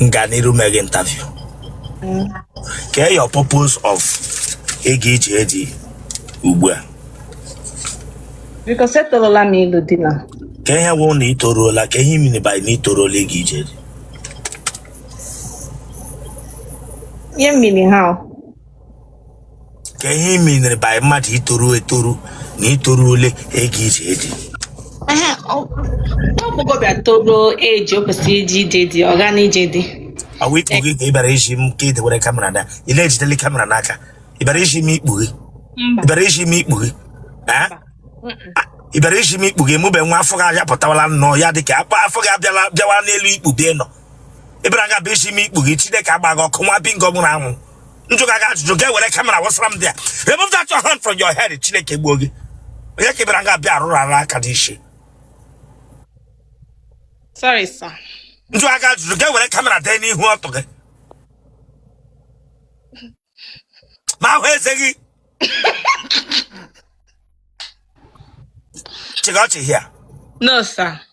m ga n'iru mee gị interview kee your purpose of ịga ije di ugbu a Because etoruola m ịlụ di na kee ihe wụ na i toruola kee ihe ị meaniri by na i toruola ịga ije di ihe mmiri ha o. kee ihe ị meaniri by mmadụ itoru etoru na i toruole ịga ije di Ehe, ọ- agbọghọbịa toruo ebe o kwesịrị ije ije di ọ gaa n'ije di ọ wụ ikpu gị ka ị bịara izi m ka ị dewere kamera na ị na-ejideli kamera n'aka ị bịara izi m ikpu gị ị bịara izi m ikpu gị Ah? ị bịara izi m ikpu gị mụbe nwa afọ gị abịa pụtawala nnọọ ya dị ka akpa afọ gị abịala bịawa n'elu ikpu bịa nọ ị bịara ga bịa izi m ikpu gị chineke gbaa gị ọkụ nwa bingo nwụrụ anwụ m jụga gị ajụjụ gị ewere kamera wụsara m dị ya remove that your hand from your head chineke gbuo gị onye ka ị bịara nga abịa arụrụ ara aka n'isi sorry sir m jụga gị ajụjụ gị ewere kamera dewe n'ihu ọtụ gị m ahụ eze gị chịga ọchị here no sir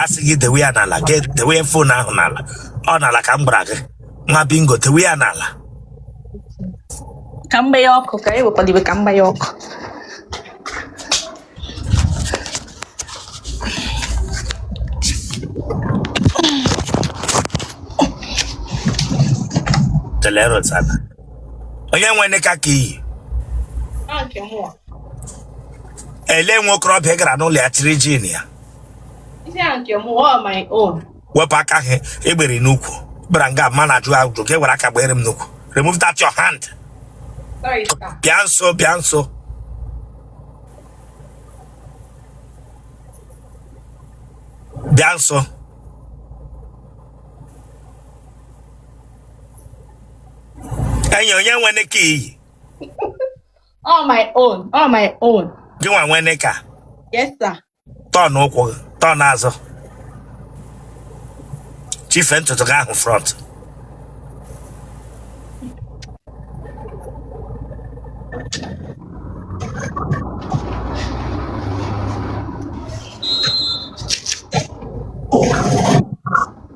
a sị gị dewe ya n'ala gị dewe fon ahụ n'ala ọ n'ala ka m gwara gị nwa bingo dewe ya n'ala ka m gbaa ya ọkụ ka e wekwadebe ka m gbaa ya ọkụ Teleros, Ana. onye nwe nịka ka i yi ele nwa okorobịa gara n'ụlọ ya chịrị jean ya wepụ aka gị egbere n'ukwu bịara nga m na-ajụ ajụjụ gị ewere aka gbere m n'ukwu remove that your hand bịa nso bịa nso bịa nso enyi onye nwe nịka i yi Ọ my own. Ọ my own. gị nwa nwe nịka Yes, sir. turn ukwu gị turn azụ chịfe ntutu gị ahụ front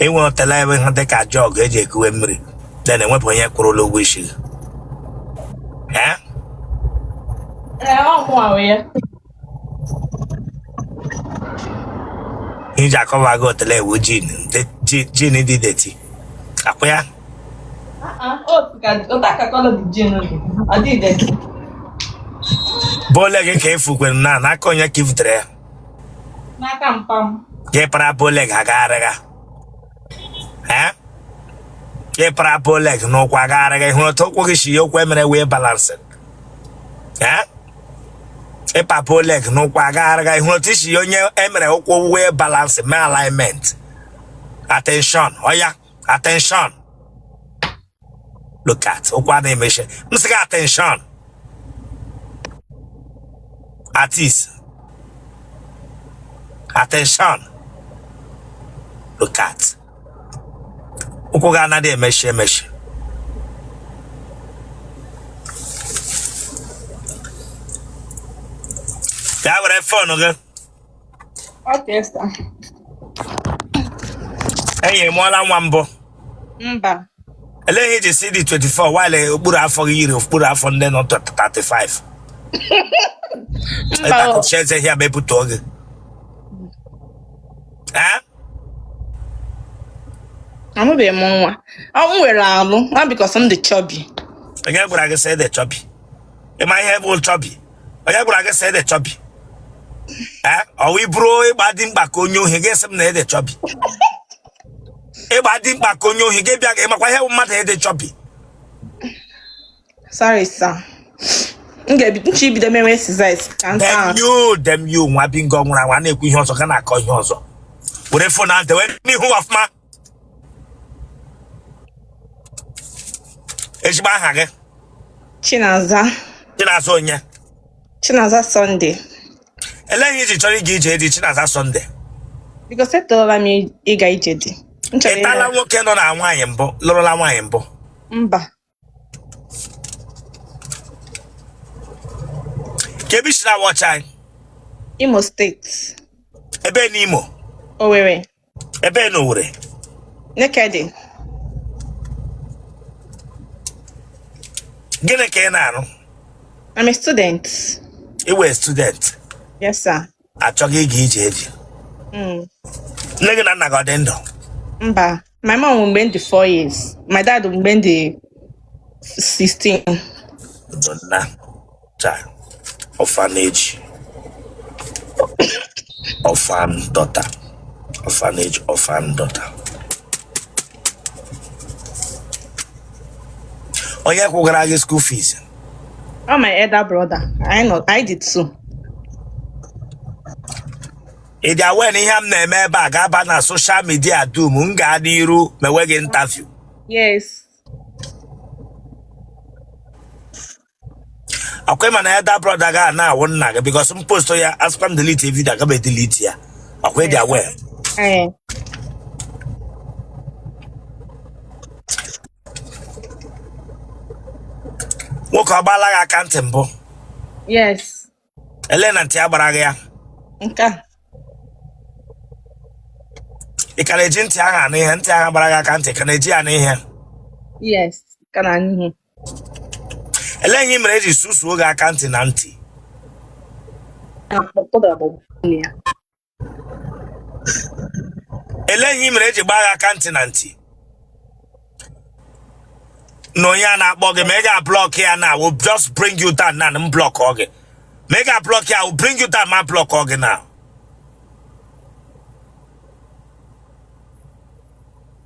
i nwe otele ebe ha dị ka jug e ji ekuwe mmiri na enwebe onye kwụrụla ụgwọ isi gị Eh? iji akọwa gị otele ewu jean jean dị dirty akwa ya bow leg ka efukwere na n'aka onye ka ifutere ya n'aka mpa m gị para bow leg agagharịga gị para bow leg n'ụkwụ agagharịga ịhụrụ otu ụkwụ gị si yie ụkwụ e mere wheel balancing ị pa bow leg n'ụkwụ agagharịga ịhụrụ otu i si yie onye e mere ụkwụ wheel balancing mee alignment attention oya attention look at ụkwụ anaghị emechi m sị gị attention at ease attention look at ụkwụ gị anaghị emechi emechi oya were fon gị Okay, sir. enyi ị mụọla nwa mbụ Mba. elee ihe i ji sị ị dị 24 while okpuru afọ gị yiri okpuru afọ ndị nọ 35 Mba. o. ịtakụchi eze ihe mepụta oge Eh? Amụbeghị m nwa. Ọ m nwere ahụ. Ọ because m dị chubby. onye gwara gị sị ị dị chubby ị ma ihe bụ chubby onye gwara gị sị ị dị chubby ee ọwa i buru ị gba dimkpa ka onye ohi gị sị m na ị dị chubby ị gba dimkpa ka onye ohi gị bịa gị makwa ihe bụ mmadụ ịdị chubby sorry sir m ga-ebido echi ibido mewe exercise ka m saa damn you damn you nwa bingo nwụrụ anwụ a na-ekwu ihe ọzọ gị ana-akọ ihe ọzọ were fon ahụ dewe n'ihu ọfụma ezigbo aha gị Chinaza Chinaza onye Chinaza Sunday ele ihe i ji chọrọ ịga ije di Chinaza Sunday because etolela m ịga ije di M chọrọ i tola ịga- nwoke nọ na nwaanyị mbụ lụrụla nwaanyị mbụ mba kee ebe i si na-watch anyị Imo steeti ebe n'Imo Owerri ebe na Owerri Nekede gịnị ka ị na-arụ I'm a student ị wụ student yes sir achọga ịga ije di Mm. nne gị na nna gị ọ dị ndụ Mba, my mom nwụrụ mgbe m dị 4 years. My dad nwụrụ mgbe m dị 16. ndo nna chai orphanage orphan daughter orphanage orphan daughter onye kwụgara gị school fees ọ my elder brother anyị nọ anyị dị two ị dị aware na ihe m na-eme ebe a ga-aba na social media dum m gaa n'iru mewe gị interview yes akwa ị ma na your elder brother ga na-awụ nna gị because m post ya asịkwa m delete video aga m edelete ya akwa ị dị aware Ee. nwoke ọ gbaala gị aka ntị mbụ Yes. elee na ntị ya gbara gị ya Nke a. ị ka na-eji ntị ahụ anụ ihe ntị ahụ gbara gị aka ntị ị ka na-eji ya anụ ihe Yes. Ka na-anụ ihe. elee ihe ị mere e ji susuo gị aka ntị na ntị elee ihe ị mere e ji gbaa gị aka ntị na ntị na onye a na-akpọ gị ma ị ga-ablock ya na will just bring you down na m block ọ gị ma ị ga-ablock ya will bring you down ma block ọ gị na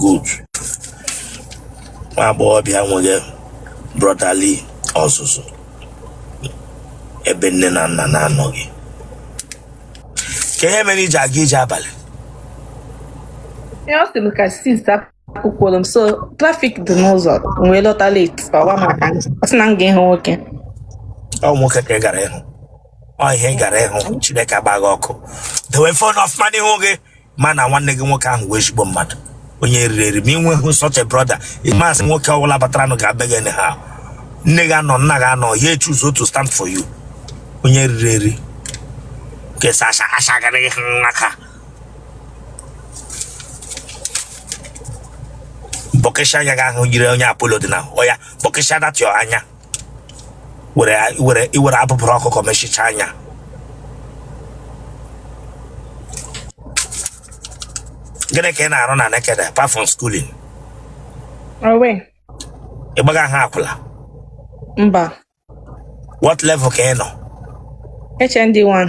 good nwa agbọghọbịa nwere brotherly ọzụzụ ebe nne na nna na-anọghị kee ihe mere i ji aga ije abalị ọ sị m ka sis akwụkwọrọ m so traffic dị n'ụzọ m wee lọta late ọwa maka m ọ sị na m gara ịhụ nwoke ọ nwoke ka ị gara ịhụ ọ ihe ị gara ịhụ Chineke agbaa gị ọkụ dewe phone ọfụma n'ihu gị mana nwanne gị nwoke ahụ wụ ezigbo mmadụ onye riri eri ma ị nweghị such a brother ị masị nwoke ọbụla bataranụ ga-abịa gị anyhow nne gị anọ nna gị anọ ya choose to stand for you onye riri eri kesa asha asha gara gị n'aka bọkịsha anya gị ahụ yiri onye Apollo dị na oya bọkịsha that anya were were i were abụbụrụ ọkụkọ mechicha anya gịnị ka ị na-arụ na Nekede apart from schooling O nwee. ị gbagaha akwụla Mba. what level ka ị nọ HND1.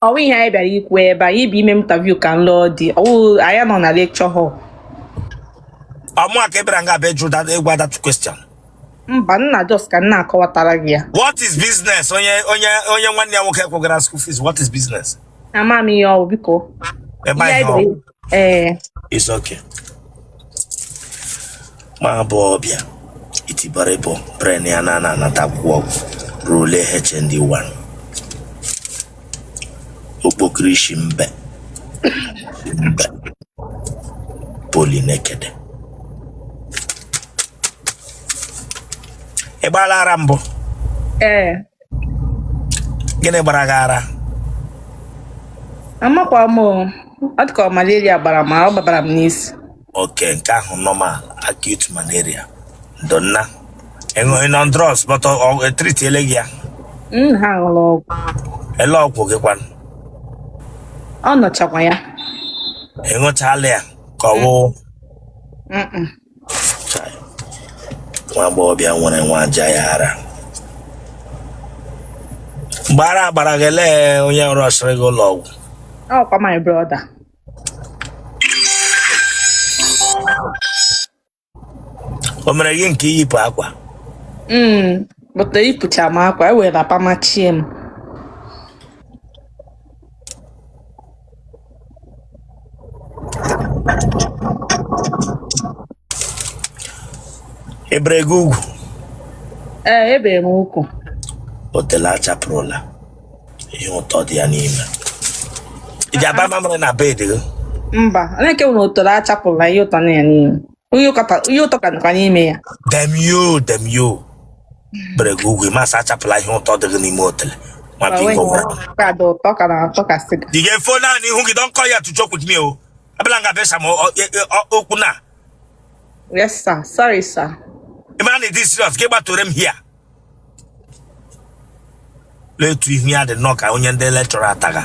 ọ wụ ihe anyị bịara ikwu ebe anyị bụ ime interview ka nlọ dị ọ wụ anyị nọ na lecture hall ọmụ aka ebere nga abịa jụ that ịgwa that question mba nna just ka m na-akọwatara gị ya what is business onye onye onye nwanne ya nwoke kwụgara school fees what is business ama m ihe ọ wụ biko ebe Ihe anyị anyị nọ bịara ee eh. it's okay nwa agbọghọbịa itiboribo brain ya na anata akwụkwọ ị gụrụ ole hnd 1 okpokoro isi mbe mbe poly nekede ị gbaala ara mbụ ee eh. gịnị gbara gị ara amakwa m o. ọ dịka ọ malaria gbara m ọ gbabara m n'isi okay nke ahụ normal acute malaria ndo nna ị nọ on drugs but e treatiele gị ya m ha ṅụrụ ọgwụ ele ọgwụ gị kwanụ ọ nọchakwa ya ịṅụchala ya ka ọ wụ Mm-mm. nwa agbọghọbịa nwere nwa aja ya ara gbara agbara gị elee onye rushiri gị ụlọ ọgwụ ọkwa my brother o mere gị nke iyipụ akwa mm but eyipụcha m akwa e were wrapper machie m ebere gị ugwu ee ebere m ugwu otele achapụrụla ihe ụtọ dị ya n'ime ị ga-aba mamịrị na bed gị mba na-ekewu na otele achapụla ihe ụtọ nọ ya n'ime Onye ụka ka- onye ụtọ ka nọkwa n'ime ya. damn you damn you bere gị ugwu masị achapụla ihe ụtọ dị gị n'ime otele ma Ma bingo onwe gwara ya. ka dị ụtọ ka na-atọ ka sịga. ị ga-efo naanị ihu gị dọnkọ ya tụjọ kwut mi o abịala nga besa ma ọ- e- e- ọ- okwu na Yes, sir. Sorry, sir. ị mara na ị dị serious gị gbatore m here letu ihu ya dị nnọọ ka onye ndị lecturer ataga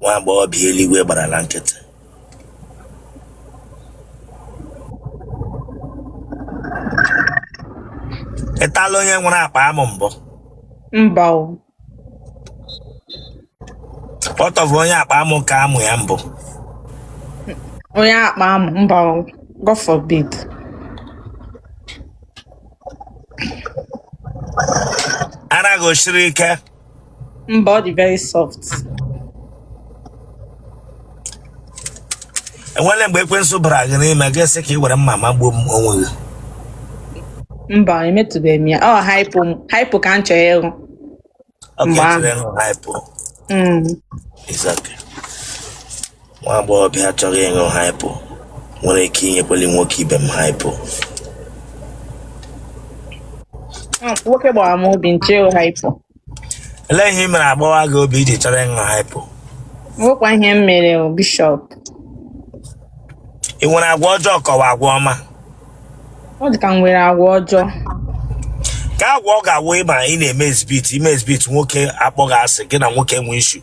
nwa agbọghọbịa eluigwe gbarala nkịtị ịtala onye nwere akpa amụ mbụ mba o kpọtọbụ onye akpa amụ ka amụ ya mbụ onye akpa amụ mba o god forbid ara gị o siri ike Mba, ọ dị very soft. enwere mgbe ekwensu bara gị n'ime gị asị ka ị were mma magbuo onwe gị Mba, emetụbeghị m ya. Ọ hypo m- hypo ka m chọrọ ịṅụ. Ọ Mgbe ahụ. ga-echere ịṅụ hypo Mm. It's okay. Nwa agbọghọbịa achọghị ịṅụ hypo nwere ike inyekwali nwoke ibe m hypo. Ah, nwoke gbawara m obi m chọọ hypo. Olee ihe ị mere a gbawaa gị obi i ji chọrọ ịṅụ hypo? Nwekwa ihe m mere bishọp. Ị nwere agwa ọjọọ ka ọ wụ agwa ọma? Ọ dị ka m nwere agwa ọjọọ. Ka agwa ọ ga-awụ ị ma ị na-eme exhibit i mee exhibit nwoke akpọọ gị asị gị na nwoke enwee issue.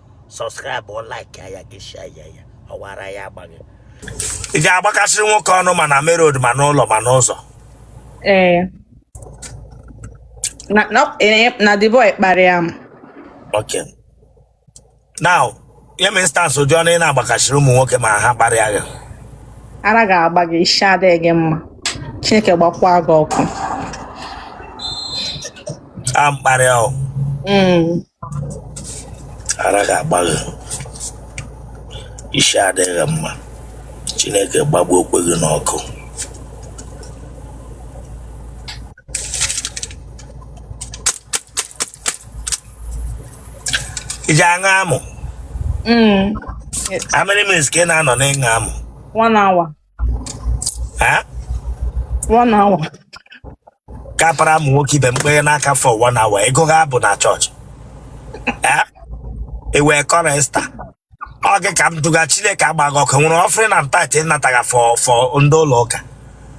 subscribe ọ like ya gị share ya ya ọwara ya agbaghị ị ga-agbakasịrị nwoke ọnụ ma na main road ma n'ụlọ ma n'ụzọ ee na na eh, na the boy kparịa m okay now nye m instance ụdị ọnụ ị na-agbakasịrị ụmụ nwoke ma ha kparịa gị ara ga-agba gị isi adịghị gị mma chineke gbakwa gị ọkụ ọ mkparị ahụ Mm. ara ga-agba gị isi adịghị mma chineke gbagbuokwa gị n'ọkụ ị ji aṅụ amụ Mm. Yes. how many minutes ka ị na-anọ n'ịṅụ amụ One hour. Eh? one hour ka ị para amụ nwoke ibe m kpara n'aka for one hour ị gụga abụ na chọọchị Eh? ị wụ chorister ọ gị ka m jụga chineke agba gị ọkụ nwere offering na tithe ị nataga for for ndị ụlọ ụka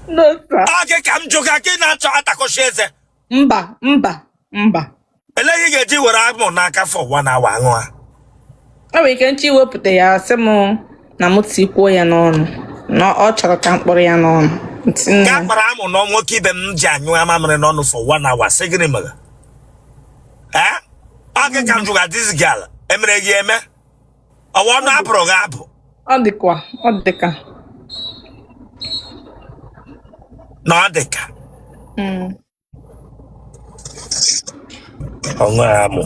no sir ọ gị ka m jụga gị na-achọ ịtakọchi eze mba mba mba olee ihe ị ga-eji were amụ n'aka for one hour aṅụ ya o nwere ike m chọọ iwepụta ya sị m na m tikwuo ya n'ọnụ na ọ chọrọ ka m kpọrọ ya n'ọnụ Ntị nne ka m. kpara amụ na nwoke ibe m ji anyụ mamịrị n'ọnụ for one hour sị gịnị mere ee ọ gị ka m jụga this girl e mere gị eme ọ wụ ọnụ a bụrụ gị abụ ọ dịkwa ọ dịka na ọ dị ka Mm. ọṅụ ya mụ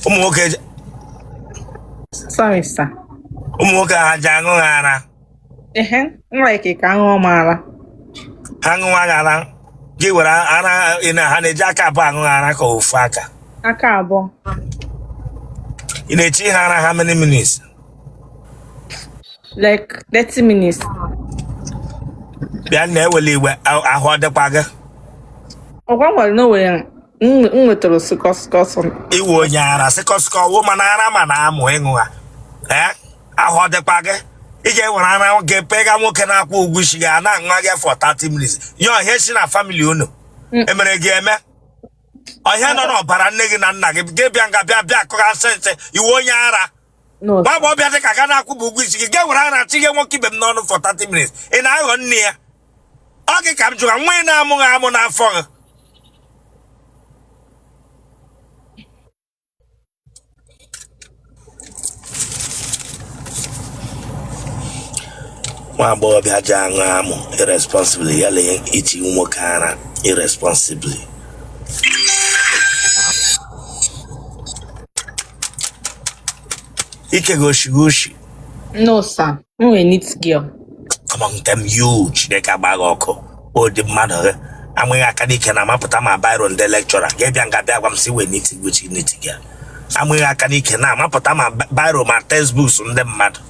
ụmụ nwoke ji- Sorry, sir. ụmụ nwoke ha ji aṅụ gị ara Ehe, m like ka a ṅụọ m ara. ha ṅụwa gị ara gị were ara ị na ha na-eji aka abụọ aṅụ gị ara ka ofu aka Aka abụọ. ị na-echi ha ara how many minutes like 30 minutes bịa na ewele iwe a- ahụ ọ dịkwa gị ọgwa nwere na onwe ya m nwetara sịkọ sịkọ sọ ị wụ onye ara sịkọsịkọ woman ara ma na-amụ ịṅụ ha ee ahụ ọ dịkwa gị ị ga-ewere ara gị pega nwoke na-akwụghị ụgwọ isi gị a na-aṅụ gị for 30 minutes nye ọ ihe si na family unu emere gị eme ọ ihe nọ n'ọbara nne gị na nna gị gị bịa nga bịa bịa akọghasị nsị ị wụ onye ara nwa agbọghọbịa dị ka gị a na-akwụbeghị ụgwọ isi gị ga-ewere ara tinye nwoke ibe m n'ọnụ for 30 minutes ị na-aghọ nne ya ọ gị ka m jụwa nwa ị na-amụghị amụ n'afọ gị nwa agbọghọbịa ji aṅụ amụ irresponsibly ya lee iti nwoke ara irresponsibly Ike goshi goshi. No, sir. I'm a neat girl. Come on, damn you, Chineke agba gị ọkụ. Ụdị mmadụ gị. A ma gị aka n'ike na amapụta ma biro ndị lecturer. Gị bịa nga bịa gwa m sị ị wụ neat girl, which neat girl. A ma gị aka n'ike na amapụta ma biro ma textbooks ndị mmadụ.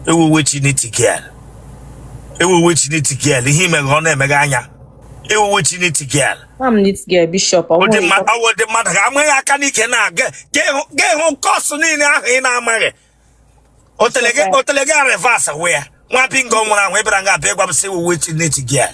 Ị wụ which neat girl. Ị wụ which neat girl. Ihe ị megha ọ na-eme gị anya. Ị wụ which neat girl. Nwa m this girl bishop ọ ụdị nwere mma- ọ wụ ụdị mmadụ gị a a ma gị aka n'ike na-aga ga-ahụ course niile ahụ ị na-amaghị otele gị otele gị revas wee ya nwa bingo nwụrụ anwụ ị bịara nga abịa ịgwa m sị ị wụ which neat girl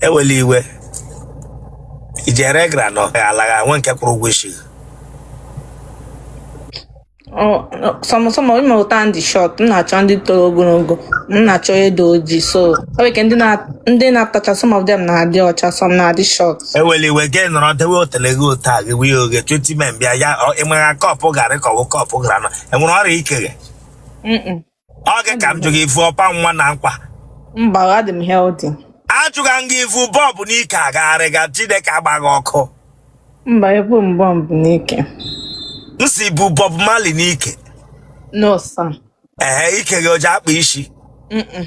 ewela iwe i jere gara nọ ya alagha nwe nke kwụrụ ụgwọ isi some some ịma ụta ndị short m na-achọ ndị toro ogologo m na-achọ edo ojii so o nwere ike ndị na- ndị na-atacha some of them na-adị ọcha some na-adị short ewela iwe gị nọrọ dewe otele gị otu a gị wee oge 20 men bịa ya ịmara cup garị kọwụ cup garị nọ i nwere ọrịa ike gị Mm-mm. ọ gị ka m jụ gị i vu ọpa nwa na nkwa mba adị m healthy ajụga m gị i vu bọmbụ n'ike agagharịga chineke agba gị ọkụ mba ebu m bọmbụ n'ike m sị i bu Bob Marley n'ike no sir ee ike gị o ji akpa isi Mm-mm.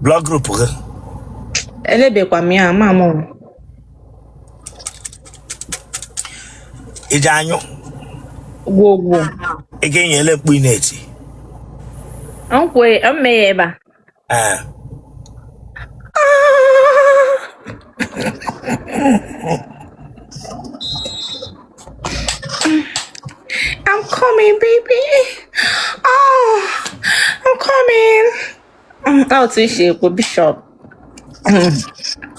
blood group gị elebekwa m ya ama m ụlọ i ji anyụ gwogwo ị ga-enye ele mkpu ị na-eti mee ya ebe a ee I'm coming, baby. Oh, I'm coming. otu i si ekwu bishọp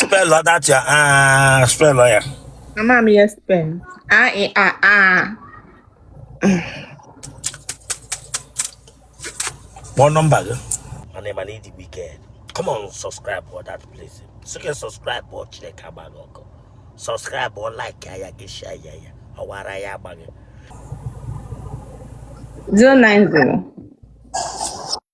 spelụ adachi a spelụ ya ama m ya spen a ị a a kpọọ nọmba gị mana ị mana ị dịgbu ike come on subscribe for that place sike subscribe ọ chineke agba gị ọkụ subscribe ọ like ya gị share ya ya ọwara ya agba gị 090